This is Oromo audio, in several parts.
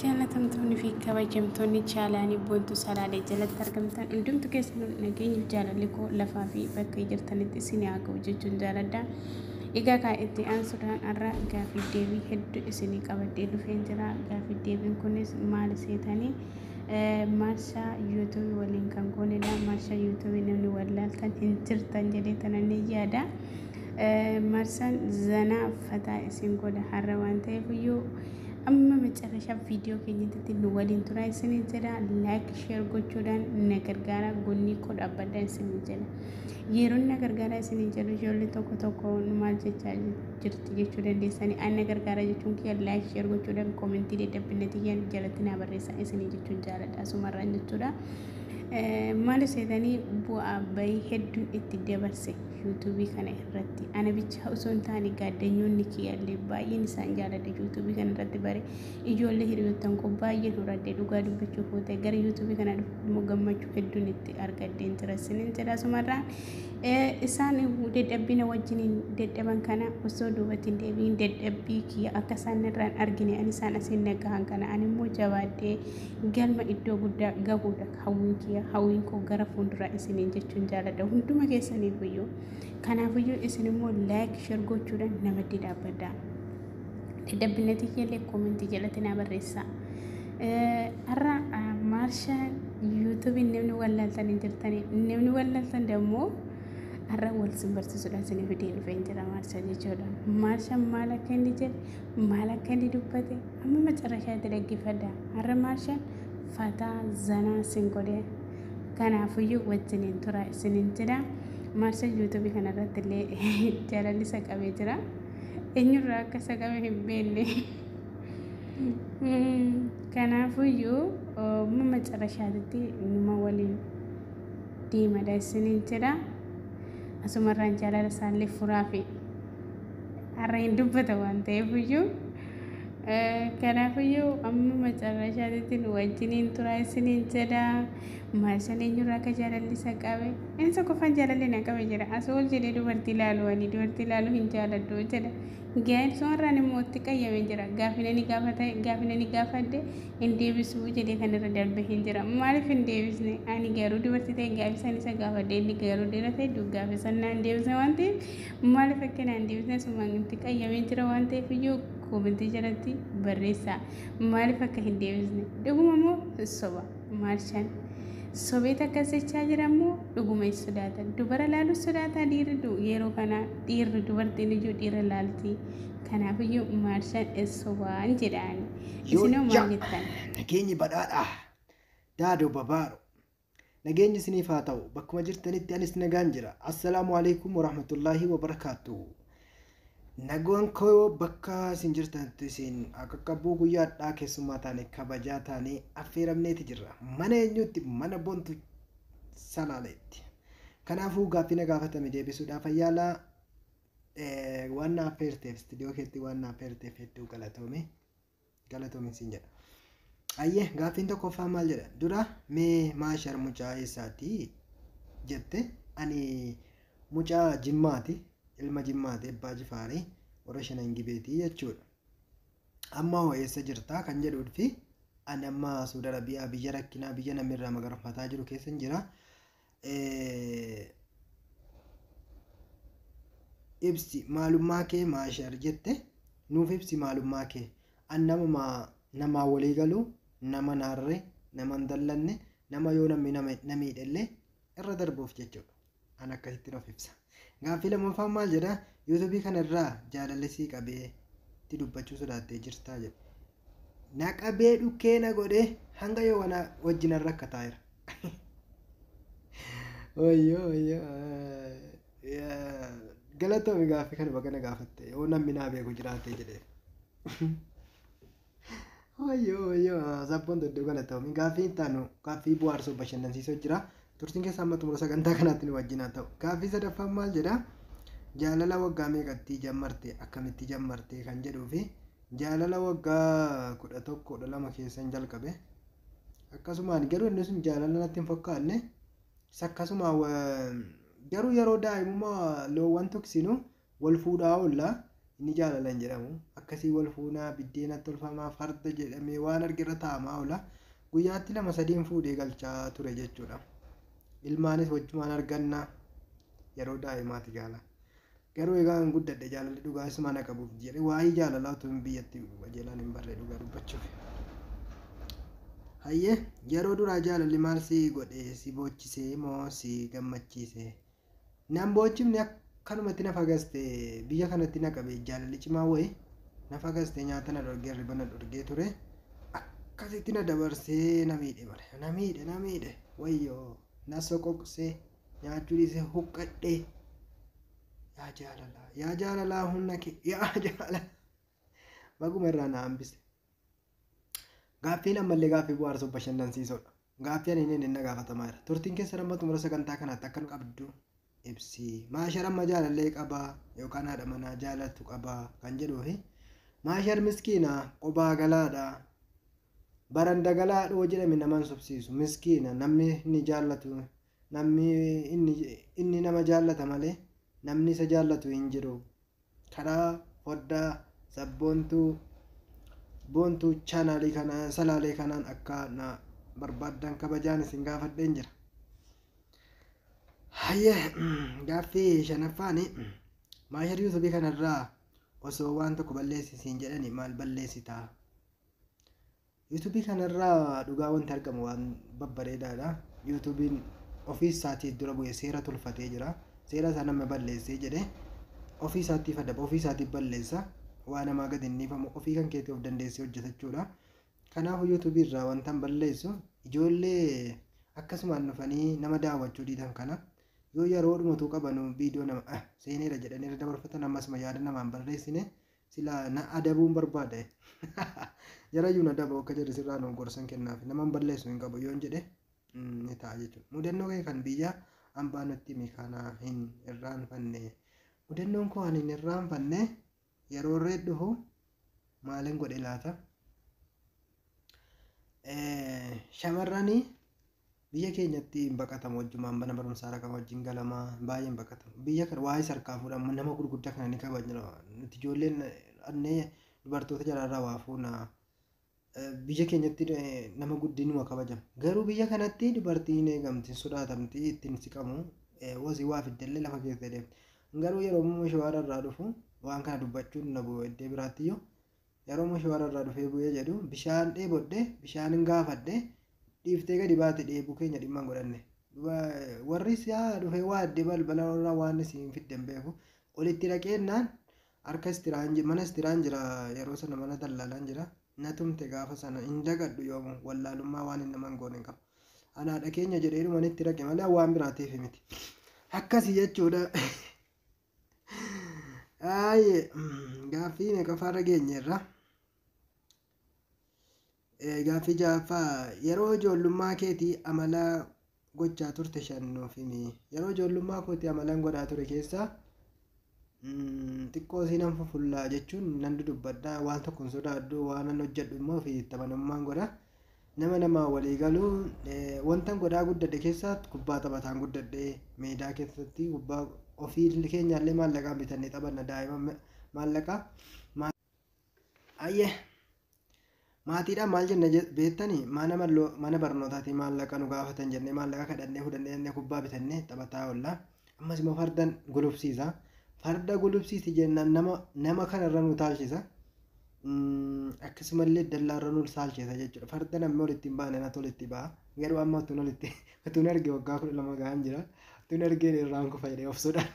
Jaallatamtoonni fi kabajamtoonni chaalaanii boontuu salaalee jalatti argamtan hundumtu keessanuu nageenyi jaalalli koo lafaa fi bakka jirtanitti isin haa ga'u jechuun jaaladha. Egaa kaa itti aansuudhaan har'a gaafii deebii hedduu isinii qabadhee dhufeen jira. Gaafii deebiin kunis maal seetanii? Marshaa YouTube waliin kan goonedha. Marshaa YouTube namni wallaaltan hin jirtan jedhee tana ni yaada. Marsaan zanaa fataa isin godha har'a waan ta'eef iyyuu amma macarrashaa viidiyoo keenyatti nu waliin turaa isinii jedha. Laayik sheer gochuudhaan na gargaara gonnii koo dhaabbadha isinii jedha. Yeroon na gargaara isinii jedhu ijoollee tokko tokko nu maal jechaa jiru. jirti jechuu dandeessanii anna gargaara jechuun kiyya laayik sheer gochuudhaan koomentii daddabbinna tiyyan jalatti naa barreessa isinii jechuun jaaladha asumarraan jechuudha maali seetanii bu'aa bayii hedduun itti dabarse yuutuubii kana irratti ana bichaa osoo hin taane gaaddanyoonni kiyyallee baay'een isaan jaaladha yuutuubii kana irratti bare ijoollee hiriyoottan koo baay'ee horadhe dhugaa dubbachuuf yoo ta'e gara yuutuubii kana dhufuuf immoo gammachuu hedduun itti argadheen jira isiniin jedha asumarraan Isaan dadhabbii na wajjiniin dadhaban kana osoo duubatti hin deebiin dadhabbii kiyya akka isaan irraa hin argine ani isaan asiin nagahan kana ani immoo jabaadhee galma iddoo guddaa gahuudha hawwiin kiyya hawwiin koo gara fuulduraa isiniin jechuun jaaladha hunduma keessaniif iyyuu kanaafiyyuu isin immoo laayik shir gochuudhaan na maddii dhaabbadha. Dadhabbina tiyyallee koomentii jalatti naa barreessaa. Har'a maarsha yuutuubii namni wallaaltan hin jirtanii namni wallaaltan dammoo har'a wal sin barsiisuudhaan sin fidee dhufee hin jira maarsha jechuudha. Maarsha maal akka inni jedhe maal akka inni dubbate amma macarrashaatti dhaggeeffadha. Har'a maarsha fataa zanaa sin godhee kanaafuyyuu wajjiniin tura isiniin jedha. Maarsha yuutuubii kanarratti illee jaalalli isa qabee jira. eenyurraa akka isa qabe hin beekne. Kanaafuyyuu amma macarashaatitti numa waliin deemadha isiniin jedha. Asumarraan jaalala isaallee furaa fi har'a hin dubbata waan ta'eefiyyuu. Kanaafiyyuu amma macarashaatitti nu wajjiniin turaa isiniin jedha. Maarsan eenyurraa akka jaalalli isa qabe? Insa qofaan jaalalli na qabe jedha. Asoo ol jedhee dubartii ilaalu ani dubartii ilaalu hin jaaladhu jedha. Gaa'el sumarraan immoo itti qayyame jira. Gaafina ni gaafata gaafina ni gaafadhe hin deebisu jedhee kan irra darbe hin jira. Maaliif hin deebisne? Ani garuu dubartii ta'e gaa'el san isa gaafadhe inni garuu dira ta'e duggaafe san naan deebisne waan ta'eef maaliif akka naan deebisne sumaan itti qayyame jira waan ta'eef iyyuu koomentii jalatti barreessaa maaliif akka hin deebisne dhuguma moo soba? Maarshaan. Sobeet akkas jechaa jira immoo dhuguma hin sodaatan. Dubara laaluu sodaataa dhiirri du yeroo kana dhiirri dubartiin iyyuu dhiira laalti. Kanaafiyyuu maarshaan hin sobaan jedhaan. Isinoo maal Yoojja jettan? nageenyi badhaadhaa daadoo babaaro nageenyi isiniif haa ta'u bakkuma jirtanitti anis nagaan jira assalaamu alaikum warahmatullaahi wabarakaatuhu Nagaan koo bakka isin jirtanitti isin haa qaqqabu. Guyyaa har'aa keessummaa taane kabajaa taanee affeeramneeti jirra. Mana eenyuutti? Mana Bontu Salaaleetti. Kanaafuu gaaffii na gaafatame deebisuudhaaf ayyaala waan na affeerteef istiidiyoo keetti waan na affeerteef hedduu galatoomi. galatoomin siin jedha ayyee gaaffiin tokkoffaa maal jedha dura mee maashar mucaa eessaati jette ani mucaa jimmaati ilma jimmaati abbaa jifaarii warra shanan gibeetii jechuudha amma hoo eessa jirtaa kan jedhuudfi ani amma suuda arabiyaa biyya rakkinaa biyya namni irraa magarfataa jiru keessan jira ibsi maalummaa kee maashar jette nuuf ibsi maalummaa kee an namuma namaa walii galu nama naarre nama hin dallanne nama yoo namni nama na miidhellee irra darbuuf jechuudha an akkasitti nuuf ibsa gaaffii lammaffaan maal jedha yuutuubii kana irraa jaalallisii qabee itti dubbachuu sodaattee jirtaa jedha Na qabee dhukkee na godhee hanga yoo wana wajjin irra akka taa'eera. Wayyoo wayyoo. Yaa, Galatoomi gaaffii kana baga na gaafatte yoo namni naa beeku jiraatee jedhee. Wayyoo wayyoo sabboon doddoo galatoomi gaaffii itti aanu gaaffii bu'aarsuu bashannansiisoo jira. Turtiin keessa amma xumura sagantaa kanaatti nu wajjin haa ta'u. Gaaffii sadaffaan maal jedha? Jaalala waggaa meeqatti jammarte akkamitti jammarte kan jedhuu fi Jaalala waggaa 11, 12 keessan jalqabe. Akkasumaan garuu inni sun jaalala natti hin fakkaanne. Isa akkasuma wa- garuu yeroo daa'imummaa loowwan tuksinu wal fuudhaa oolla. Inni jaalala hin jedhamu. Akkasii wal fuunaa, biddeena tolfamaa, farda jedhamee waan argerra taa'amaa oola. Guyyaatti lama sadiin fuudhee galchaa ture jechuudha. Ilmaanis wajjumaan arganna. Yeroo daa'imaati gaala. Garuu egaa an guddadhe jaalalli dhugaa isuma na qabuuf jedhe waa'ii jaalalaa utuun biyyatti qajeelaan hin barree dhugaa dubbachuuf. Hayyee yeroo duraa jaalalli maal si godhe si boochisee moo si gammachiise nan boochifne akkanumatti na fagaste biyya kanatti na qabe jaalalli cimaa wayi na fagaste nyaata na dhorgee hirriba na dhorgee ture akkasitti na dabarsee na miidhe bare na miidhe na miidhe wayyoo na soqoqsee nyaachuu dhiise huqqadhe yaa jaalalaa yaa jaalalaa humna kee yaa jaalala baguma irraa na hambise gaaffiin ammallee gaaffii bu'aarsoo bashannansiisoodha gaaffii ani inni na gaafatamaa jira turtiin keessa nama xumura sagantaa kanaatti akka nu qabdu ibsi maashar amma jaalallee qabaa yookaan haadha manaa jaalatu qabaa kan jedhuu fi maashar miskiina qobaa galaadha Baran dagala hadhoo jedhame nama hin sobsiisu miskiina namni inni jaallatu namni inni inni nama jaallata malee namni isa jaallatu hin jiru karaa foddaa sabboontuu boontuu chaanaalii kana salaalee kanaan akka na barbaaddan kabajaan isin gaafadheen jira. Hayyee gaaffii shanaffaani maashar yuutubii kanarraa osoo waan tokko balleessi siin jedhani maal balleessitaa? Yuutuubii kanarraa dhugaa wanti argamu waan babbareedaadha. Yuutuubiin ofii isaatii dura bu'ee seera tolfatee jira. Seera isaa nama balleessee jedhee ofii isaatiif adaba ofii isaatiif balleessa. Waa namaa gadi hin dhiifamu ofii kan keetii of dandeessee hojjeta jechuudha. Kanaafuu yuutuubii irraa wantan balleessu ijoollee akkasumaan dhufanii nama daawwachuu diidan kana yoo yeroo dhumatuu qabanu viidiyoo nama ah seeneera jedhanii irra dabarfatan ammasuma yaada namaan barreessine Silaa na adabuun barbaade. Jarayyuu na daba akka jarri sirraa nuuf gorsan kennaafi. Naman balleessu hin qabu yoon jedhe ni ta'a jechuudha. Mudannoo kee kan biyya ambaa nutti himi kana hin irraanfanne. Mudannoon koo ani hin irraanfanne yeroo irreed dhufu maalin godhe laata? Shamarranii Biyya keenyatti hin baqatamu wajjumaan mana barumsaa dhaqama wajjin galama baay'ee hin baqatamu biyya kana waa'ee sarkaa fuudhamu nama gurguddaa kana ni kabajna nuti ijoolleen annee dubartoota jalaarraa waa fuuna Eh, biyya keenyatti eh, nama guddinuma kabajama garuu biyya kanatti dubartiin hin eegamti hin sodaatamti ittiin siqamu eh, wasii waa fiddellee lafa keessa deemti garuu yeroo immoo shawaara irraa dhufu waan kana dubbachuun na bu'u iddee biraattiyyuu Yeroo Mushe warra irraa dhufee bu'ee jedhu, bishaan dheebodhe, bishaanin gaafadhe, dhiiftee gadi baate dheebuu keenya dhimma hin godhanne. Duba warri siyaa dhufee waadde balbala irraa waan isiin fidde hin beeku. Olitti dhaqeennaan harka istiraan ji- mana istiraan jira yeroo sana mana dallaalaan jira. Na tumte gaafa sana hin dagadhu yoomu wallaalummaa waan hin naman goone hin qabu. Ana haadha keenya jedhee dhumanitti dhaqe malee waan biraatiif miti. Akkasi jechuudha. Aayye gaaffii meeqaffaarra geenyeerra? Eh, Gaaffii ja'affaa yeroo ijoollummaa keetii amala gochaa turte shan nuuf himi. Yeroo ijoollummaa kooti amalan godhaa ture keessaa mm, xiqqoo siinan fufullaa jechuun nan dudubbadha waan tokko hin sodaadhu waan nan hojjedhu immoo fi taphanummaan godha. Nama namaa walii galu wantan godhaa guddadhe keessaatti kubbaa taphataan guddadhe meedaa keessatti kubbaa ofii keenyaallee maallaqaan bitannee taphanna daa'ima maallaqa ayyee maatiidhaan maal jenna beektani mana mana barnootaatii maallaqa nu gaafatan jennee maallaqa kadhannee fudhannee jennee kubbaa bitannee taphataa oolla Ammas immoo fardan gulufsiisa. Farda gulufsiisi jennaan nama nama kanarra nu taalchisa. Akkasumallee dallaarra nu taalchisa jechuudha. Farda namni walitti hin baane natu walitti ba'a. Garuu amma utuun walitti utuun erge waggaa kudha lama gahaan jira. Utuun ergeen irraan kufa jedhee obsuudhaan.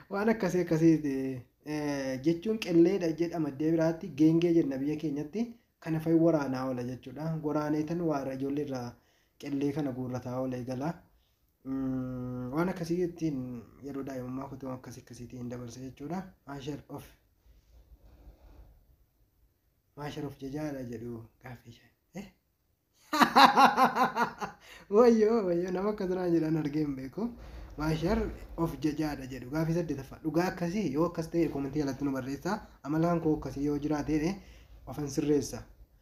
Waan akkasii akkasiiti jechuun qilleedha jedhama iddoo biraatti geengee jenna biyya keenyatti kana fa'i waraanaa oola jechuudha. Waraanee tan waara ijoollee irraa qillee kana guurrataa oola eegala. Waan akkasii ittiin yeroo daa'imummaa kutuu akkasii akkasiitii hin dabarse jechuudha. Maashar of maashar of jajaadha jedhu gaaffii ishee. Wayyoo wayyoo nama akka turaa jedhan argee hin beeku. Maashar of jajaadha jedhu gaaffii saddeetaffaa dhugaa akkasii yoo akkas ta'e koomentii jalatti nu barreessaa amalaan koo akkasii yoo jiraate ofan sirreessa.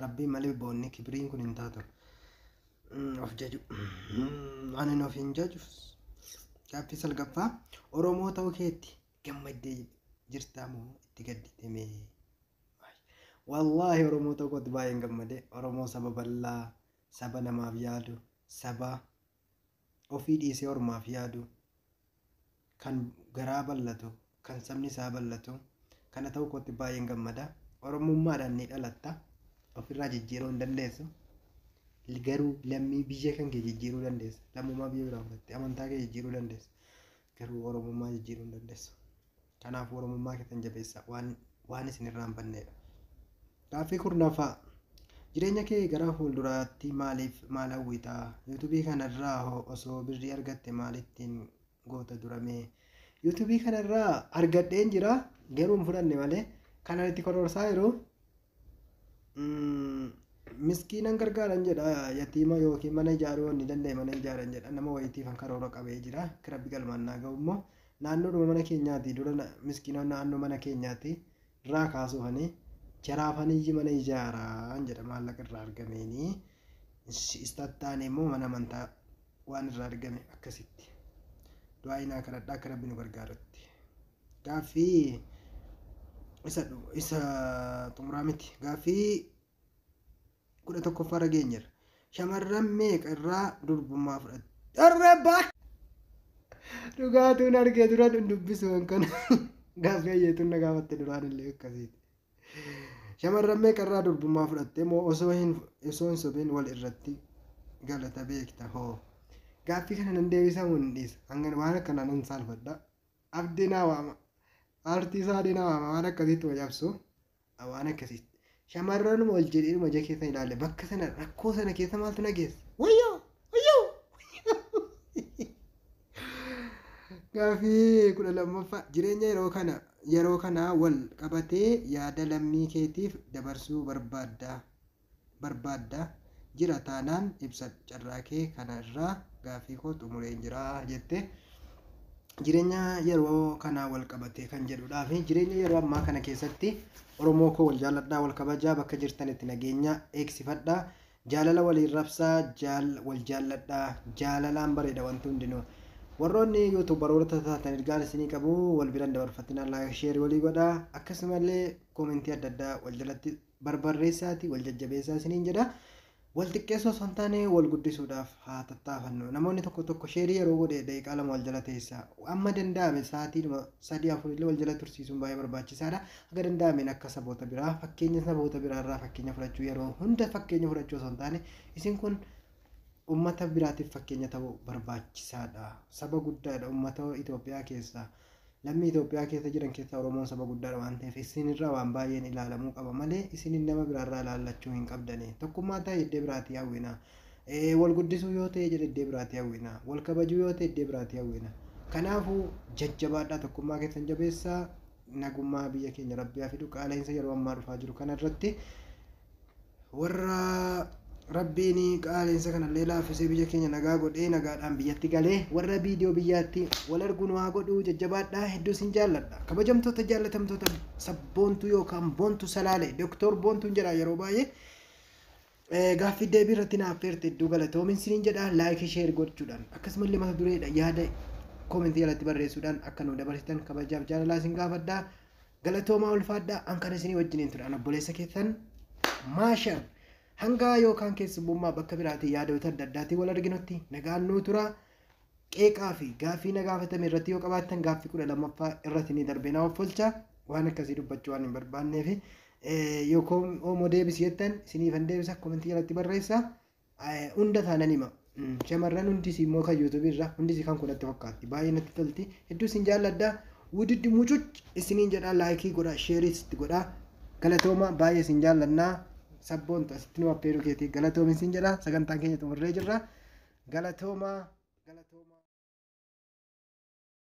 Rabbii malee boonni kibiriin kun hin taatu. Of jaju. Waan hin of hin jaju. Gaaffii salgaffaa Oromoo ta'uu keetti gammaddee jirtaa moo itti gaddite mee? Wallaahi Oromoo ta'uu kootti baay'een gammade. Oromoo saba bal'aa, saba namaaf yaadu, saba Ofii dhiisee ormaaf yaadu, kan garaa bal'atu, kan sabni isaa bal'atu kana ta'uu kootti baay'een gammada. Oromummaadhaan ni dhalatta, ofirraa jijjiiruu hin dandeessu. Garuu lammii biyya kan kee jijjiiruu dandeessa. Lammummaa biyya biraa fudhattee amantaa kee jijjiiruu dandeessa. Garuu Oromummaa jijjiiruu hin dandeessu. Kanaafuu Oromummaa keessan jabeessaa. Waan, waan isin irraa hin banneedha. Gaaffii kurnaffaa. Jireenya kee gara fuulduraatti maaliif maal hawwita? Yuutubii kanarraa hoo osoo birrii argatte maal ittiin goota duramee? Yuutubii kanarraa argadheen jira garuu hin fudhanne malee kanan itti kororsaa jiru miskiinan gargaaran jedha yatiima yookiin mana ijaaruu wanni danda'e mana ijaaran jedha nama wayitii kan karoora qabee jira kirabbi galmaan naa ga'u immoo naannoodhuma mana keenyaati dura miskiina naannoo mana keenyaati irraa kaasuufani jaraafanii mana ijaaraan jedha maallaqa irraa argameeni istattaane immoo mana amantaa waan irraa argame akkasitti du'aa inaa kadhadhaa kirabbi nu gargaarutti. gaaffii isa dhu- isa xumuraa miti gaaffii kudha tokkoffaa irra geenyerra shamarran meeqa irraa durbummaa fudhatte dharra baa dhugaatuun argee dura hin dubbisu waan kana gaaffii ayyeetuun na gaafatte duraan illee akkasiiti shamarran meeqa irraa durbummaa fudhatte moo osoo hin osoo hin sobin wal irratti galata beekta hoo gaaffii kana nan deebisamu hin dhiisa hanga waan akkanaan hin saalfadha Abdii naa waama. Aartii saadee na waama waan akkasiitti ma cabsu waan akkasiitti. Shamarranuma ol jedheedhuma ija keessa ilaale bakka sana rakkoo sana keessa maaltu na geesse? Wayyoo! Wayyoo! Gaaffii kudha lammaffaa jireenya yeroo kana yeroo kanaa wal qabatee yaada lammii keetiif dabarsuu barbaadda. barbaadda? Jira taanaan ibsadhu carraakee kana irraa gaaffiikoo xumureen jira jette. Jireenya yeroo kanaa wal qabatee kan jedhudhaafi jireenya yeroo ammaa kana keessatti Oromoo koo wal jaalladhaa wal kabajaa bakka jirtanitti nageenya eegsifadhaa jaalala waliin rabsaa jaal wal jaalladhaa jaalalaan bareeda wanti hundinuu warroonni yuutuubaroota taatan ergaan isinii qabu wal biran dabarfatinaa laayik sheerii walii godhaa akkasumallee koomentii adda addaa wal jalatti barbarreessaati wal jajjabeessaa isiniin jedha. Wal xiqqeessuu osoo hin taane wal guddisuudhaaf haa tattaafannu. Namoonni tokko tokko sheerii yeroo godhe daqiiqaa lama wal jala teessa. Amma danda'ame sa'aatiidhuma sadii afurillee wal jala tursiisuun baay'ee barbaachisaadha. Akka danda'ameen akka saboota biraa fakkeenya saboota biraarraa fakkeenya fudhachuu yeroo hunda fakkeenya fudhachuu osoo hin taane isin kun uummata biraatiif fakkeenya ta'uu barbaachisaadha. Saba guddaadha uummata Itoophiyaa keessaa. Lammii Itoophiyaa keessa jiran keessaa Oromoon saba guddaadha waan ta'eef isin irraa waan baay'een ilaalamuu qaba malee isinin nama biraa irraa ilaallachuu hin qabdani. Tokkummaa ta'e iddee biraatii hawwina. Wal guddisuu yoo ta'e jedhe iddee biraatii hawwina. Wal kabajuu yoo ta'e iddee biraatii hawwina. Kanaafuu jajjabaadhaa tokkummaa keessan jabeessaa nagummaa biyya keenya rabbi haa fidu qaala'insa yeroo ammaa dhufaa jiru kana irratti warra rabbiin qaaleensa kanallee laaffisee biyya keenya nagaa godhee nagaadhaan biyyatti galee warra viidiyoo biyyaatti wal arguu nu haa godhuu jajjabaadhaa hedduu sin jaalladha kabajamtoota jaallatamtoota sabboontuu yookaan boontuu salaale doktor boontuun jedha yeroo baay'ee Eh, gaaffii deebii irratti naaf feerte hedduu galatoomin siniin jedha laayikii sheer gochuudhaan akkasumallee mata dureedha yaada koomentii jalatti barreessuudhaan akka nu dabarsitan kabajaaf jaalalaa sin gaafadha Galatoomaa ulfaadhaa an kan isinii wajjiniin ture an obboleessa keessan maashar hangaa yookaan keessummummaa bakka biraatii yaadoota adda addaatiin wal arginutti nagaan nuu tura qeeqaa fi gaaffii na gaafatame irratti yoo qabaattan gaaffii kudha lammaffaa irratti ni darbee na offolcha waan akkasii dubbachuu waan hin barbaannee fi yoo koomoo deebisi jettan isiniifan deebisa komentii jalatti barreessa Hunda isaa nan hima. Shamarran hundis immoo kan YouTube irra hundis kan koo natti fakkaatti. Baay'ee natti tolti. Hedduu isin jaalladha. Wudiddi mucuc isiniin jedha laayikii godha sheerii sitti godha. Galatooma baay'ee isin jaalladha. Sabboontu asitti nu affeeruu keetii galatoomi isin jedha. Sagantaan keenya xumurree jirra. Galatooma. Galatooma.